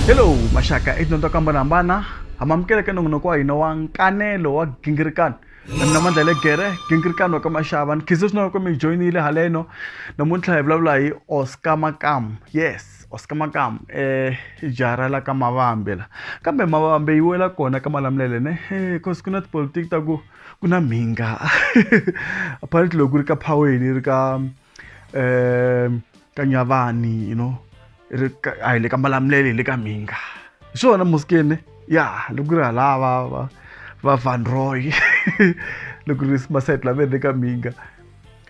hello maxaka i dyondzo ka mbona hambana ha mamukela ka nongonoko wa hina wa nkanelo wa gingirikano mina mandla le gere gingirikano wa ka maxava ni khize swinene loko mi hi joyinile haleno namuntlha hi vulavula hi oscar makam yes oscar makam um i jara la ka mavambe la kambe mavambe yi wela kona ka malamulele ne bcause ku na tipolitiki ta ku ku na mhinga apparently loko ku ri ka phaweni ri ka um ka nyavani you know ri ka- a hi le ka malamulele hi le ka mhinga hi swona muskene ya loko ku ri halava va va van roy loko ri masayiti lama ri le ka mhinga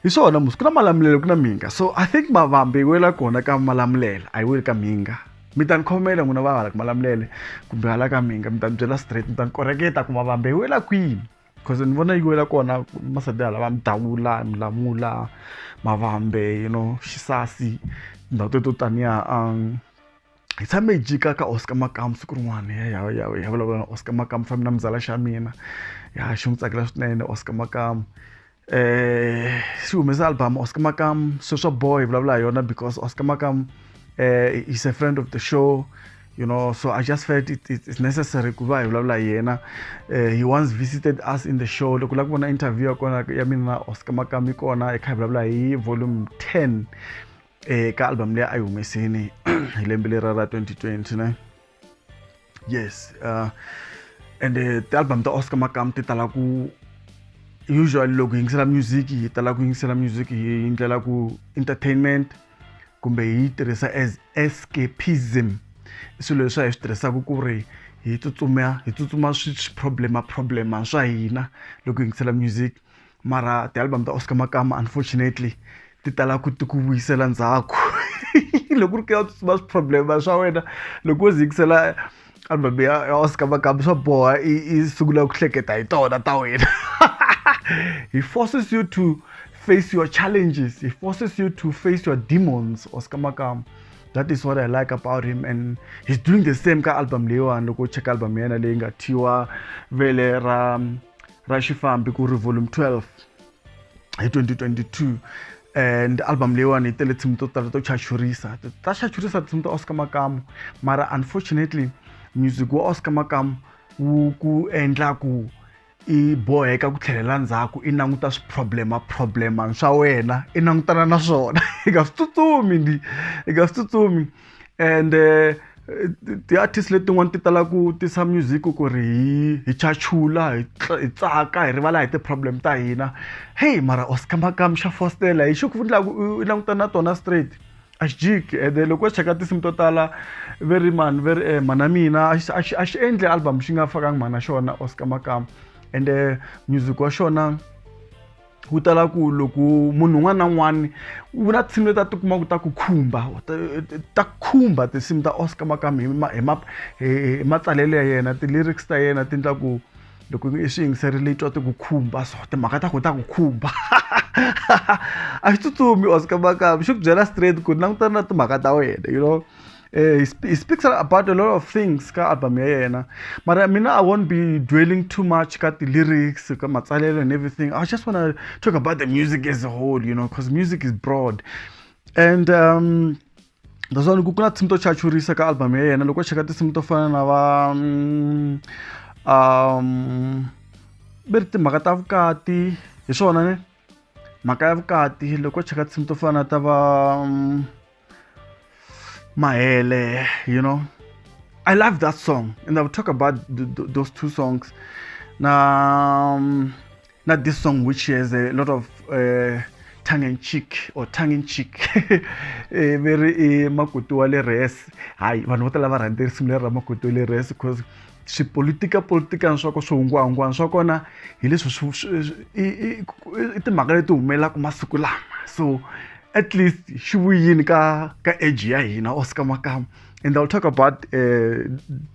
hi swona musi ku na malamulelo ku na mhinga so i think mavambi yi wela kona ka malamulelo a yi weli ka mhinga mi ta ni khomela n'wina va hala ka malamulele kumbe hala ka mhinga mi ta ni byela straight mi ta ni koreketa ku mavambi yi wela kwini because ni vona yi wela kona masadi hala va midavula milamula mavambe you know xisasi ndhawu teto taniya um hi tshame hi jika ka oscar makamu siku rin'wana ya vulavula na oscar makamu fambi na muzala xa mina ya xi n'wi tsakela swinene oscar makamu eh si humesa album Oscar Makam sweswa boy vulavula hi yona because Oscar Makam eh is a friend of the show you know so i just felt it, it, it's necessary ku va hi vulavula hi yena uh, he once visited us in the show loko la ku vona interview ya kona ya mina na oscar makami kona hi kha hi vulavula hi volume 10 eka eh, album leyi a yi humesini hi lembe lera ra 2020 ne yes uh, and uh, ti-album ta oscar makam ti tala ku usually loko hi yingisela music hi tala ku yingisela music hi ndlela ku entertainment kumbe hi yi tirhisa as escapism i swilo leswi a hi swi tirhisaka ku ri hi tsutsuma hi tsutsuma swi problema problema swa hina loko hi yingisela music mara ti-album ta oscar makama unfortunately ti tala ku ti ku vuyisela ndzhaku loko ri ka va problem swa wena loko wo zikisela album ya ya oscar makama swa boha i i sungula ku hleketa hi tona ta wena he forces you to face your challenges he forces you to face your demons oscar makama that is what i like about him and he's doing the same ka album leyiwani loko u cheka album ya yena leyi nga thyiwa vele ra ra xifambi ku ri volume 12 hi 2022 and album leyiwani yi tele tinsimu to tala to chachurisa ta chachurisa tinsimu ta oscar makamu mara unfortunately music wa oscar makamu wu ku endla ku i boheka ku tlhelela ndzhaku i languta swiproblema problema swa wena i langutana na swona i nga swi tsutsumi ndi i nga swi tsutsumi ende ti-artist letin'wani ti tala ku tisa music ku ri hi hi chachula hi hi tsaka hi rivala hi ti-problem ta hina heyi mara Oscar Makamu xa fositela hi xi ku endlaku u langutana na tona straight a xi jiki ende loko u cheka tinsimu to tala ve ri mani ve ri mhana mina a xi a xi a xi endli album xi nga fakangi mhana xona Oscar Makamu ende music wa xona. wu tala ku loko munhu un'wana na un'wana wu na tinsimu leti a ti kuma ku ta ku khumba ta khumba tinsimu ta oscar makam hi ma hi ma hi matsalelo ya yena ti-lyrics ta yena ti endla ku loko i swi yingiserile i twa ti ku khumba so timhaka ta ku ta ku khumba a xi tsutsumi oscar makam xi ku byela straight ku langutana na timhaka ta wena you know Eh, he, sp he speaks about a lot of things ka album ya yena mara mina i won't be dwelling too much ka ti-lyrics ka matsalelo and everything i just want to talk about the music as a whole you know because music is broad and um, naswona ku ku na tinsimu to chachurisa ka album ya yena loko cheka tinsimu to fana na va mm, um ve ri timhaka ta vukati hi swona ne mhaka ya vukati loko cheka tinsimu to fana ta va mm, Maele, you know. I love that song, and I will talk about th th those two songs. Now, um, not this song, which has a lot of uh, tongue in cheek or tongue in cheek. Eh, very eh, makutu wale res. Hi, vanhu vo tala va rhandza risimu leri ra makutu wale res because swipolitika politikana swa ko swihungwahungwana swa kona hi leswi i timhaka leti humelelaka masiku lama so at least xi vuyini ka ka age ya hina or ska makamu and i'll talk about uh,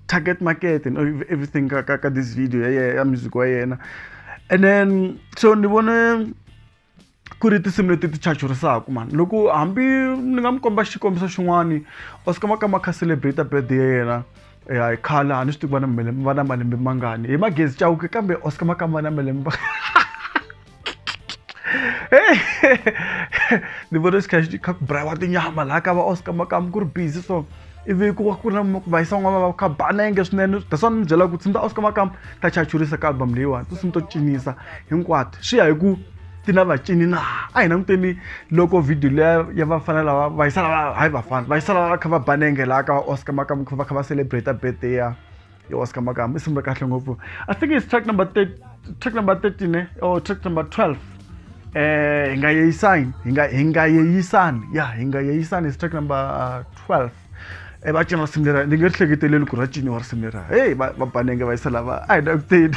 target market and everything ka, ka, ka this video ya, ya music wa yena and then so ni vone ku ri tinsimu leti ti chachurisaka mani loko hambi ni nga mi komba xikombiso xin'wani or ska makamu a kha celebrate birthday ya yena ya khale a ni swi tivi va na malembe va na malembe mangani hi magezi chawuke kambe oscar makamba na malembe ni vona xikhaxi xi kha ku brayiwa tinyama laha ka va oscar makamu ku ri busy so ivi ku va ku ri na vayisa n'wana va kha ba na yenge swinene that's why ni byela ku tsindza oscar makamu ta chachurisa ka album leyiwani to sini to cinisa hinkwato swi ya hi ku ti na vacini na a hi languteni loko video leya ya vafana lava vayisa lava hayi vafana vayisa lava va kha va ba nenge laha ka va oscar makamu va kha va celebrate birthday ya yo ska makamba i sungule kahle ngopfu i think it's track number track number 13 eh? or oh, track number 12 eh hi nga yeyisani hi nga hi nga yeyisani ya hi nga yeyisani track number uh, 12 e va cina risimu lera ni nge ri hleketeleli ku ri ra ciniwa risimu lera heyi va banenge va yisa lava a hi na ku teni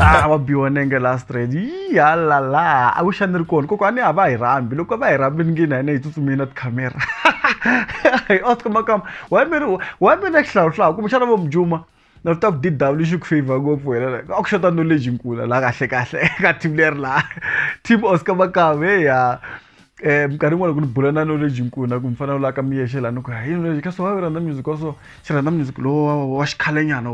ah wa biwa nenge la straight yi halala i wish a ni ri kona koko a ni a va hi rambi loko va hi rambi ni ngi na hina hi tsutsumile na tikhamera hi oscar makamba wa mi ri wa mi na xihlawuhlawu kumbe xana vo mujuma na ri ta ku dw xi ku favor ngopfu wena a ku xota knowledge nkula la kahle kahle ka team leri laha team oscar makamba heya um minkarhi yin'wana loko ni bula na knowledge nkulu na ku mi fanele u laka mi yexe laha ni ku hi knowledge ka so wa rhandza music wa so xi rhandza music lowu wa xikhalenyana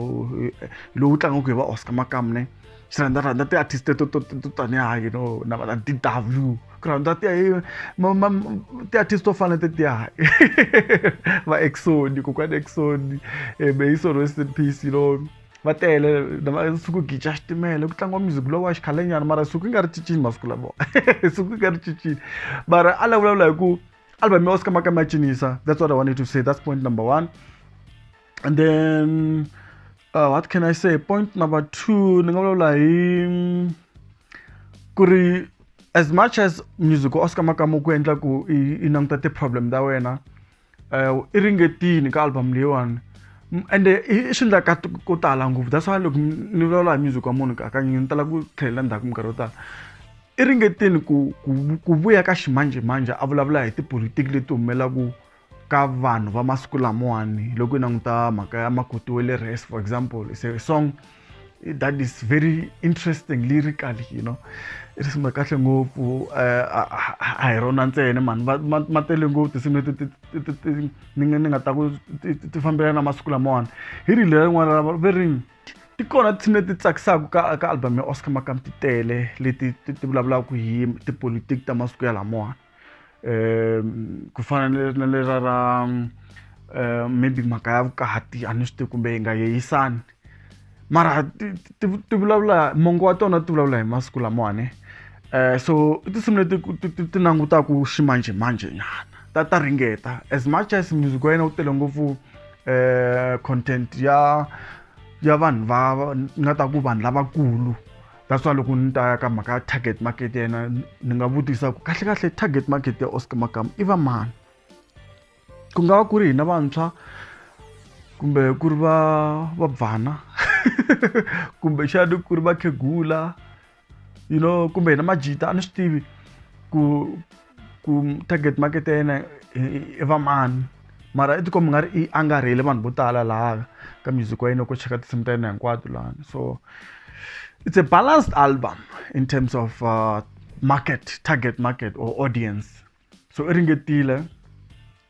lowu tlangaku hi va oscar makamu ne xi rhandza rhandza ti-artist to to to tanihi ha you know na va d w ku rhandza ti ti-artist to fana tetiya va exoni kokwani exoni um hi solo rest in peace you know va tele suku hi gica xitimela ku tlangiwa music lowa xikhalenyana mara suku yi nga ri cincini masiku lavo suku yi nga ri cincini mara a la vulavula hi ku album ya oscar makama ya cinisa that's what i wanted to say that's point number one and then uh, what can i say point number two ni nga vulavula hi ku ri as much as music wa oscar makama ku endla ku i languta ti-problem ta wena uh, i ringetini ka album leyiwani ende i swi endla ka ko tala ngopfu that's why loko ni vulavula hi music wa munhu hakanyingi ni tala ku tlhelela ndzhaku minkarhi yo tala i ringetini ku ku vuya ka ximanjhemanjhe a vulavula hi tipolitiki leti humelelaku ka vanhu va masiku lamawani loko yi languta mhaka ya makoti wa le res for example is a song that is very interesting lyrical you know i risimu ra kahle ngopfu eh, a hi rona ntsena mani ma tele ngopfu tinsimu leti ni nga ta ku ti fambelana na masiku lamawani hi ri leri rin'wana ra ve ri ti kona tinsimu leti tsakisaka ka ka album ya oscar makam ti tele leti ti vulavulaka hi tipolotiki ta masiku ya lamawani um ku fana na lera ra um maybe mhaka ya vukati a ni swi tivi kumbe yi nga yeyisani mara ti vulavula mongo wa tona ti vulavula hi masiku lamawani um so i tinsimu leti ti langutaka ximanjhemanjhe nyana ta ta ringeta as much as music wa yena wu tele ngopfu um content ya ya vanhu va nga ta ku vanhu lavakulu that's why loko ni ta ya ka mhaka ya target market ya yena ni nga vutisa ku kahlekahle target market ya oscar makama i va mani ku nga va ku ri hina vantshwa kumbe ku ri va va bvana kumbe xani ku ri vakhegula you know kumbe hina majita a ni swi tivi ku ku target market ya yena i vamani mara i tikomba nga ri i angarhele vanhu vo tala laha ka music wa yena ko cheka tinsimu ta yena hinkwato lani so it's a balanced album in terms of uh, market target market or audience so i ringetile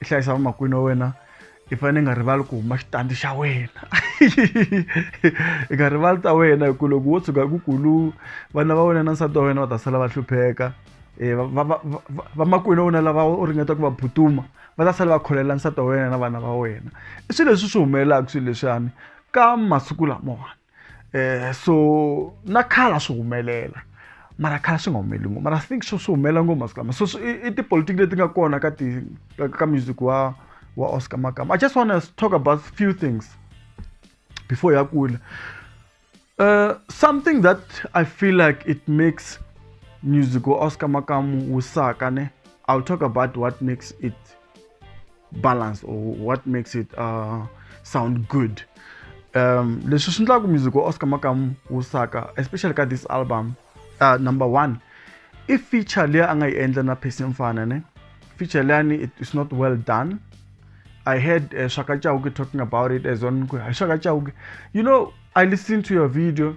i hlayisa vamakwini wa wena i fanele i nga rivali ku huma xitandi xa wena i nga rivali ta wena hi ku loko wo tshuka ku kulu vana va wena na nsati wa wena va ta sala va hlupheka Eh, vamakwenu wa wena lava u ringeta ku va butuma va ta sale va kholela nsati wa wena na vana va wena i swilo leswi swi humelelaka swilo leswiyani ka masiku lamawani eh so na khala swi humelela mara khala swi nga humeleli ngopfu mara think swo swi humelela ngopfu masiku lama so i tipolitiki leti nga kona ka ti ka music wa wa oscar makama i just wanna talk about few things before ya kula uh, something that i feel like it makes music wa oscar makamu wu saka ne i'll talk about what makes it balance or what makes it uh, sound good um leswi swi endlaka music wa oscar makamu wu saka especially ka this album uh, number one i feature leyi a nga yi endla na percy mfana ne feature leyani it is not well done i heard uh, shaka chauke talking about it as on hi shaka chauke you know i listened to your video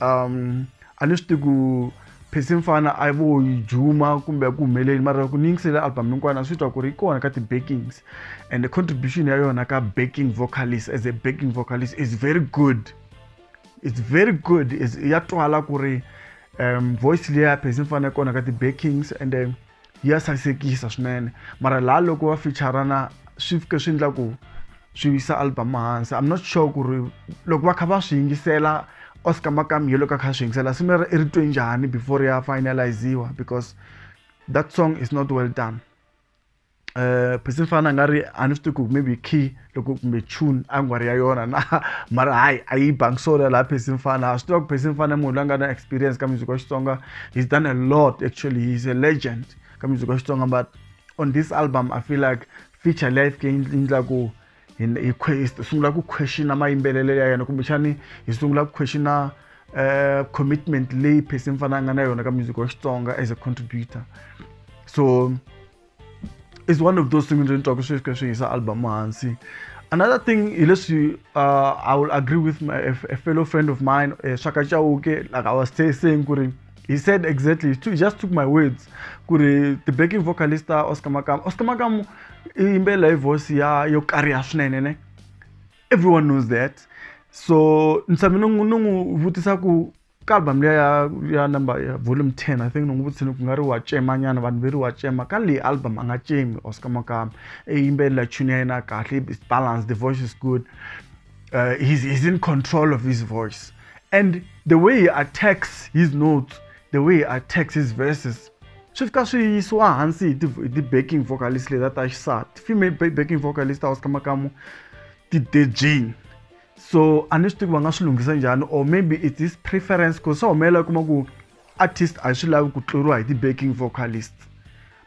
um a ni swi tivi ku phesi mfana a vo yi juma kumbe ku humeleli mara ku ni yingisele album hinkwana a swi twa ku ri yi kona ka ti-backings and the contribution ya yona ka backing vocalist as a backing vocalist is very good it's very good is ya twala ku ri um voice leyi ya phesi mfana yi kona ka ti-backings and then ya sasekisa swinene mara laha loko va featurana swi fike swi endla ku swi yisa album hansi i'm not sure ku ri loko va kha va swi yingisela oscar makami hi loko a kha swi yingisela swi ri ri twe njhani before ya finaliziwa because that song is not well done um phisi ni fana a nga ri a ni swi tivi ku maybe key loko kumbe tune a nga ri ya yona na mara hayi a yi bangi so laha phesi mfana a swi tiva ku phesi mfana munhu loyi a nga na experience ka music wa xitsonga he's done a lot actually he's a legend ka music wa xitsonga but on this album i feel like feature leyi fike yi endla ku hi sungula ku questiona mayimbelelo ya yena kumbexani hi sungula ku questiona uh, commitment leyi phesi mfana a nga na yona ka music wa xitsonga as a contributor so is one of those things ndzi twaka swi fika swi yisa album hansi another thing hileswi uh, i will agree with my, a, a fellow friend of mine uh, shaka chauke like i was saying kuri he said exactly he just took my words kuri the backing vocalist uh, oscar makamu oscar makamu i yimbelela hi voice ya yo kariha swinene ne everyone knows that so ni tshame ni n'wi vutisa ku ka album liya ya ya number ya volume 10 i think nongu vutsini ku nga ri wa cema nyana vanhu ve ri wa cema ka leyi album a nga cemi oscar makama i yimbelela tune ya yena kahle is balance the voice is good uh, he's, he's in control of his voice and the way he attacks his notes the way he attacks his verses swi fika swi yisiwa hansi hi ti-backing vocalist leta ta xisati female backing vocalist a oscar makamu ti-dejane so a ni swi tivi va nga swi lunghisa njhani or maybe it is preference ku swi humelela kuma ku artist a swi lavi ku tluriwa hi ti-backing vocalist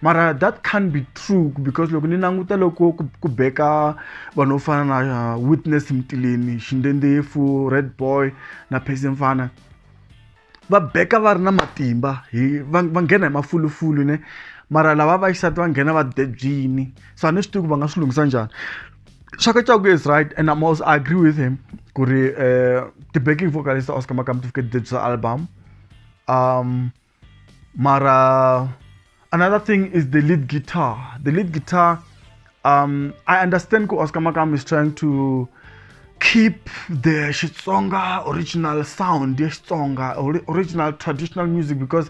mara that can't be true because loko ni languta loko ku, ku beka vanhu vo fana na uh, witness mtileni xindendefu red boy na pesimfana va beka va ri na matimba hi va va nghena hi mafulufulu ne mara lava vaxisati va nghena va debyini so a ni swi tivi ku va nga swi lunghisa njhani Shakachaku is right, and I'm also I agree with him. Kuri, uh, the backing vocalist Oscar Makam to get this album. Um, Mara Another thing is the lead guitar. The lead guitar, um, I understand Ko Oscar Makamu is trying to keep the Xitsonga original sound, the Xitsonga or original traditional music because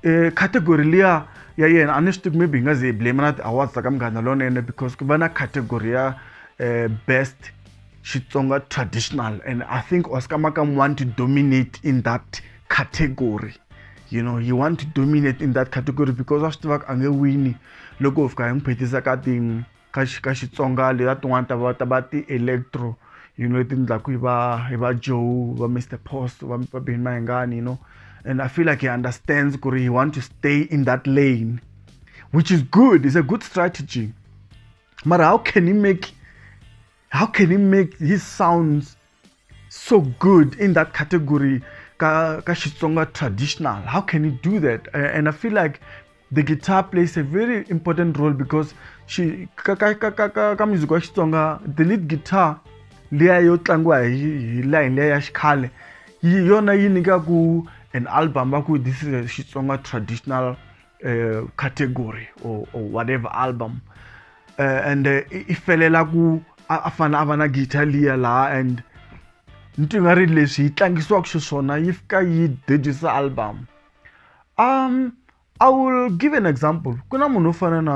uh, category liya ya yena a ni swi tivi maybe hi nga ze hi blame na ti-awards ta ka munghana lonene because ku va na category ya uh, best Xitsonga traditional and I think Oscar Makam want to dominate in that category you know he want to dominate in that category because wa swi tivaka a nge wini loko hi fika hi n'wi phethisa ka ti ka ka xitsonga leta tin'wana ta va ta va ti-electro you know leti endlaku hi va hi va joe va mr post va va beni mahingani you know and i feel like he understands ku ri he want to stay in that lane which is good is a good strategy mara how can he make How can he make his sounds so good in that category? Ka, ka Xitsonga traditional. How can he do that? And I feel like the guitar plays a very important role because she ka ka ka ka ka, ka music wa Xitsonga the lead guitar leya yo tlangiwa hi line leya ya xikhale yi yona yi nyikaku an album va ku this is a Xitsonga traditional uh, category or, or whatever album uh, and uh, i felela ku a fana a va na guitar liya laha and ni twi nga ri leswi yi tlangisiwaka xiswona yi fika yi dejisa album um i will give an example ku na munhu wo fana na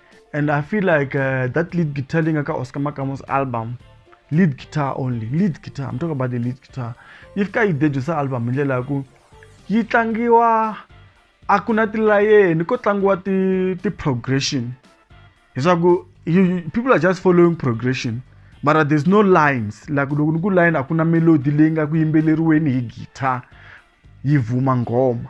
And I feel like uh, that lead guitar thing aka Oscar Makamo's album, lead guitar only, lead guitar. I'm talking about the lead guitar. If ka idejusa album ndlela ya ku yi tlangiwa a ku na tilayeni ko tlangiwa ti ti progression. Leswaku you, people are just following progression. But there's no lines like loko ni ku line a ku na melody leyi nga ku yimbeleriweni hi guitar yi vuma nghoma.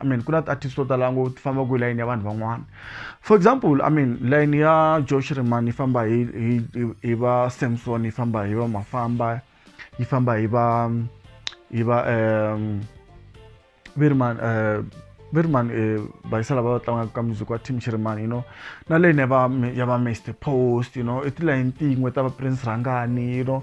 i mean ku na ti-artist to tala ngo ti famba ku layini ya vanhu van'wana for example i mean layini ya josh rimani yi famba hi hi hi va samson yi famba hi va mafamba yi famba hi va hi va um virman uh, virman uh, bayisa lava va tlangaka ka music wa team chirimani you know na leyini ya va ya va mr post you know i tilayini tin'we ta va prince rhangani you know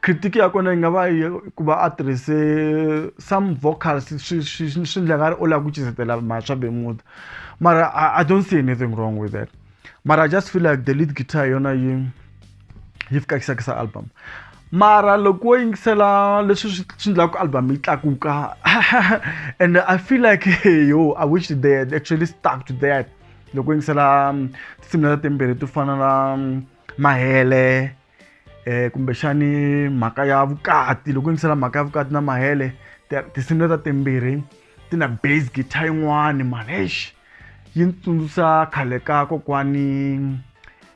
Critic ya kona yi nga va yi ku va a tirhise some vocals swi swi swi ndla nga ri u lava ku cizetela mhaswa be muti mara I, I don't see anything wrong with that mara I just feel like the lead guitar yona yi yi fikakisakisa album mara loko wo yingisela leswi swi swi ndlaka ku album yi tlakuka and I feel like yo I wish they had actually stuck to that loko yingisela um, tinsimu leta timbirhi to fana na um, mahele eh kumbexani mhaka ya vukati loko yingisela mhaka ya vukati na mahele tinsimu leta timbirhi ti na base guitar yin'wani mani eish yi ni tsundzusa khale ka kokwani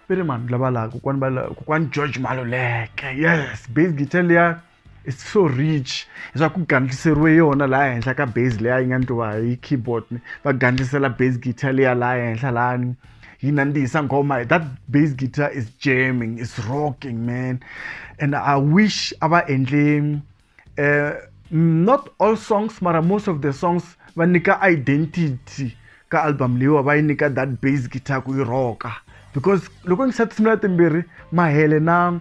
ve ri mani lava laha kokwani va kokwani george maluleke yes base guitar liya it's so rich leswaku ku gandliseriwe yona laha henhla ka base leya yi nga ndliwa hi keyboard ni va gandlisela base guitar leya laha henhla lani yi nandzihisa nghoma that base guitar is jamming is rocking man and i wish a va endle uh, not all songs mara most of the songs va nyika identity ka album leyiwa va yi nyika that base guitar ku yi rocka because loko ngisati simula timbirhi mahele na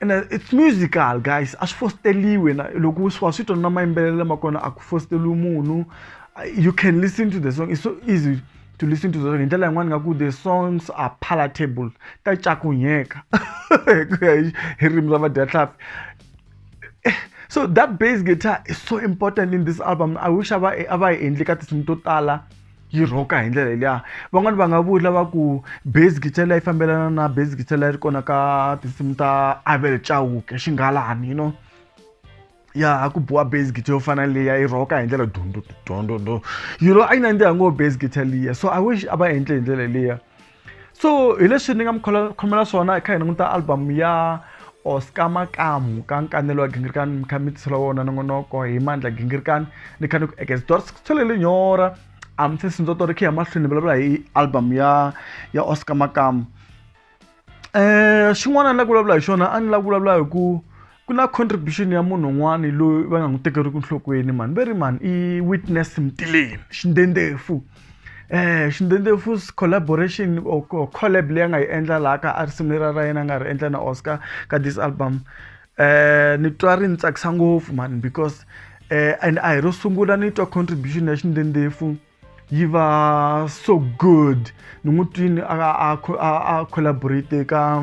and uh, it's musical guys a swi fosteriwe na loko wa swi twa na mayimbelelo lama kona a ku fosteriwi munhu you can listen to the song it's so easy to listen to the song hi ndlela yin'wana nga ku the songs are palatable ta cakunyeka ku ya hi rimi ra vadyahlapi eh, so that bass guitar is so important in this album i wish a va a va yi endli ka tinsimu to tala yi rhoka hi ndlela liya van'wani va nga vula va ku base guitar liya yi fambelana na base guitar liya yi ri kona ka tinsimu ta Abel Chauke xingalani you know ya ha ku biwa base guitar yo fana liya yi rhoka hi ndlela dundundu dundundu you know a yi nandziha ngo base guitar liya so I wish a va endle hi ndlela liya. so hi leswi ni nga mi khomela swona hi kha hi languta album ya oscar makamu ka nkanelo wa gingirikani mi kha mi tisela wona nongonoko hi mandla gingirikani ni kha ni ku ekezdor sithole linyora a mi se sindzoto ri khe ya mahlweni vulavula hi album ya ya oscar makamu um xin'wana ni la ku vulavula hi xona a ni la ku vulavula hi ku ku na contribution ya munhu un'wana loyi va nga n'wi tekeriku nhlokweni mhani ve ri mhani i witness mtileni xindendhefu um xindendhefu collaboration or collab leyi a nga yi endla laha ka a risimu leriya ra yena a nga ri endla na oscar ka this album um ni twa ri ni tsakisa ngopfu mhani because um and a hi ro sungula ni twa contribution ya xindendhefu yi va so good ni n'wi twini a a a collaborate ka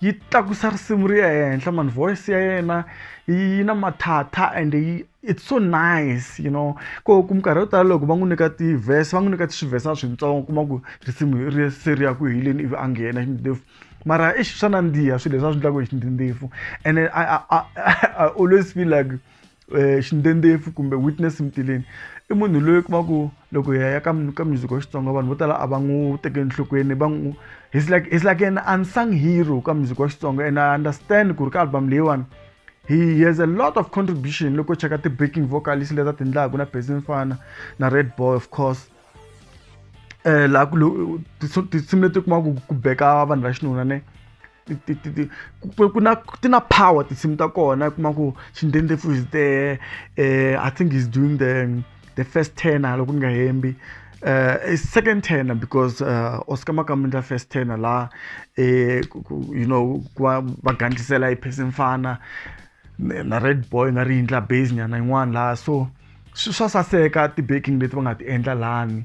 yi tlakusa risimu ri ya ehenhla mani voice ya yena yi na mathatha and yi it's so nice you know ko ku minkarhi yo tala loko va n'wi nyika ti-verse va n'wi nyika swivhesa swintsongo kuma ku risimu ri se ri ya ku heleni ivi a nghena xindlindlefu mara i swa nandziha swilo leswi a swi endlaka hi xindlindlefu and then I, I, I, I always feel like Eh, xindendhefu kumbe witness mtileni i munhu loyi kuma ku loko hi ya ka ka music wa xitsonga vanhu vo tala a va n'wi teke enhlokweni va n'wi he's like he's like an unsung hero ka music wa xitsonga and i understand ku ri ka album leyiwani he has a lot of contribution loko cheka ti-backing vocalist leta ti ndlaku na basin fana na red boy of course um laha tinsimu leti kumaku ku beka vanhu va xinuna ne ku na ti na power tinsimu ta kona i kuma ku xindendlefu is there um i think he's doing the the first tenor loko ni nga hembi uh, second tenor because uh, oscar makamundla first tenor la eh, you know va gandlisela iphesi mfana na red boy nga ri yindla base nyana yin'wana laha so swa saseka ti-baking leti va nga ti endla lani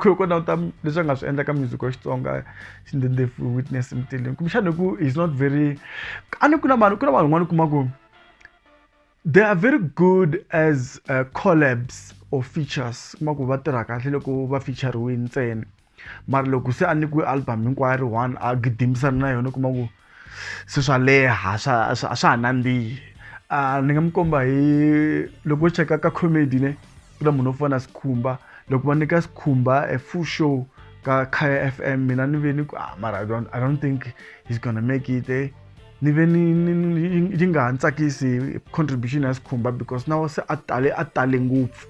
ku languta leswi a nga swi endla ka music wa xitsonga xindendefo witness mteleni kumbexana hi ku he's not very a ni ku na vanhu ku na vanhu van'wana u kuma ku they are very good as uh, collabs or features kuma ku va tirha kahle loko va featureiwe ntsena mara loko se a nyikiwe album hinkwayo ri one a gidimisana na yona u kuma ku se swa leha swa a swa ha nandzihi a ni nga mi komba hi loko u cheka ka comedy ne ku na munhu wo fana sikhumba loko va nyika sikhumba a full show ka khaya f m mina ni ve ni ku ah mara i don't, I don't think he's gonna make it eh? ni ve ni yi nga ha ni tsakisi contribution ya sikhumba because na se a tale a tale ngopfu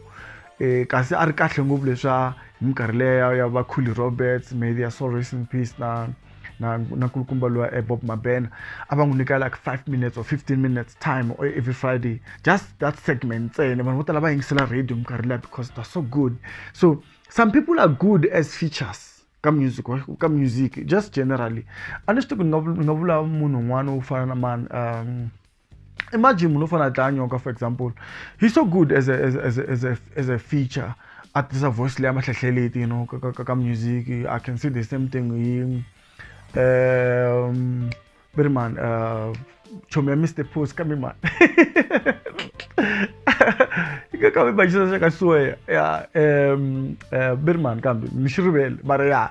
um kasi a ri kahle ngopfu leswa hi minkarhi leya ya vakhuli roberts maybe ya sorrow in peace na na na kulukumba lowa eh, bob mabena a va n'wi nyika like five minutes or fifteen minutes time or every friday just that segment ntsena vanhu vo tala va yingisela radio minkarhi liya because they're so good so some people are good as features ka music ka music just generally a ni swi tivi ni nga ni nga vula munhu un'wana wo fana na mani um imagine munhu u fanele a dlaya nyoka for example he's so good as a, as, as, as, a, as a feature a tisa voice leya mahlehlehleleti you know ka, ka, ka music i can see the same thing hi um very man uh, chomi ya mr post kambe man kambe bajisa xa ka suweya ya um uh, berman kambe mi xi rivele mara ya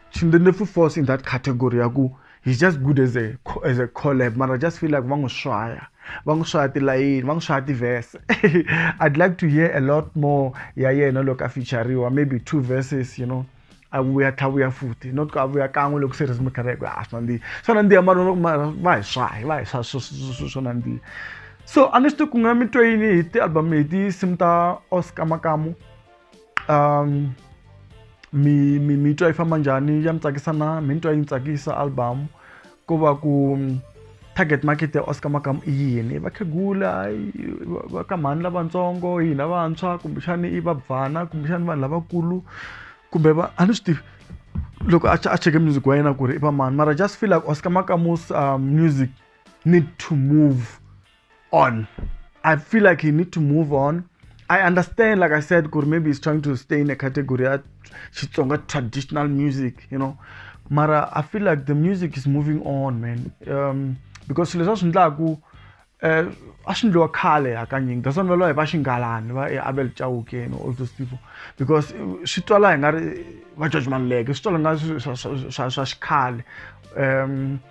Chindenefu falls in that category ya ku he's just good as a as a collab mara just feel like va n'wi swaya va n'wi swaya tilayini va n'wi swaya tiverse i'd like to hear a lot more ya yena loko a featureriwa maybe two verses you know a vuya tlha vuya futhi not ku a vuya kan'we loko se ri zimukhara ku a swi nandzihi swa nandziha mara va hi swahi va hi swa swo nandziha so a ni swi tivi ku nga mi twe yini hi ti-album hi tinsimu ta oscar makamu um mi mi mi twa yi famba njhani ya mi tsakisa na mi ni twa yi ni tsakisa album ko va ku mm, target market ya oscar makamu i yini vakhegula va ka mhani lavatsongo hina vantshwa kumbexani i vabvana kumbexani vanhu lavakulu kumbe va a ni swi tivi loko a a cheke music wa yena ku ri i va mani mara just feel like oscar makamu's um, music need to move on. I feel like he need to move on. I understand, like I said, Kuri maybe he's trying to stay in a category at Chitsonga traditional music, you know. Mara, I feel like the music is moving on, man. Um, because leswi a swi ndlaku eh, a swi ndliwa khale hakanyingi that's why va lwa va xingalani va abel chauke and all those people because swi twala hi nga ri va george maluleke swi twala nga swa xikhale um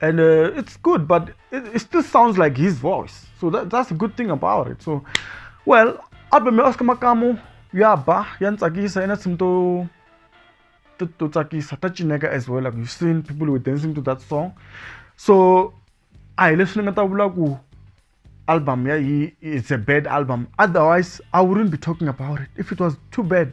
and uh, it's good but it, it, still sounds like his voice so that, that's a good thing about it so well album ya oscar makamu ya ba ya ni tsakisa ina tinsimu to to to tsakisa ta cineka as well like you've seen people were dancing to that song so a hi leswi ni nga ta vula ku album ya yi it's a bad album otherwise i wouldn't be talking about it if it was too bad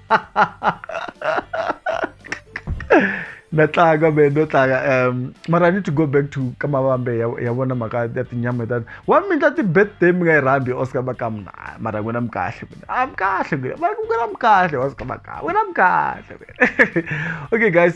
na tlanga man no tlanga um mara i need to go back to ka mavambe ya vona mhaka ya tinyama tani wa mi ndla ti-birthday mi nga yi rhambi oscar makamu na mara n'wina mi kahle mina a ah, mi kahle n'wina mara n'wina mi kahle oscar makamu n'wina mi kahle okay guys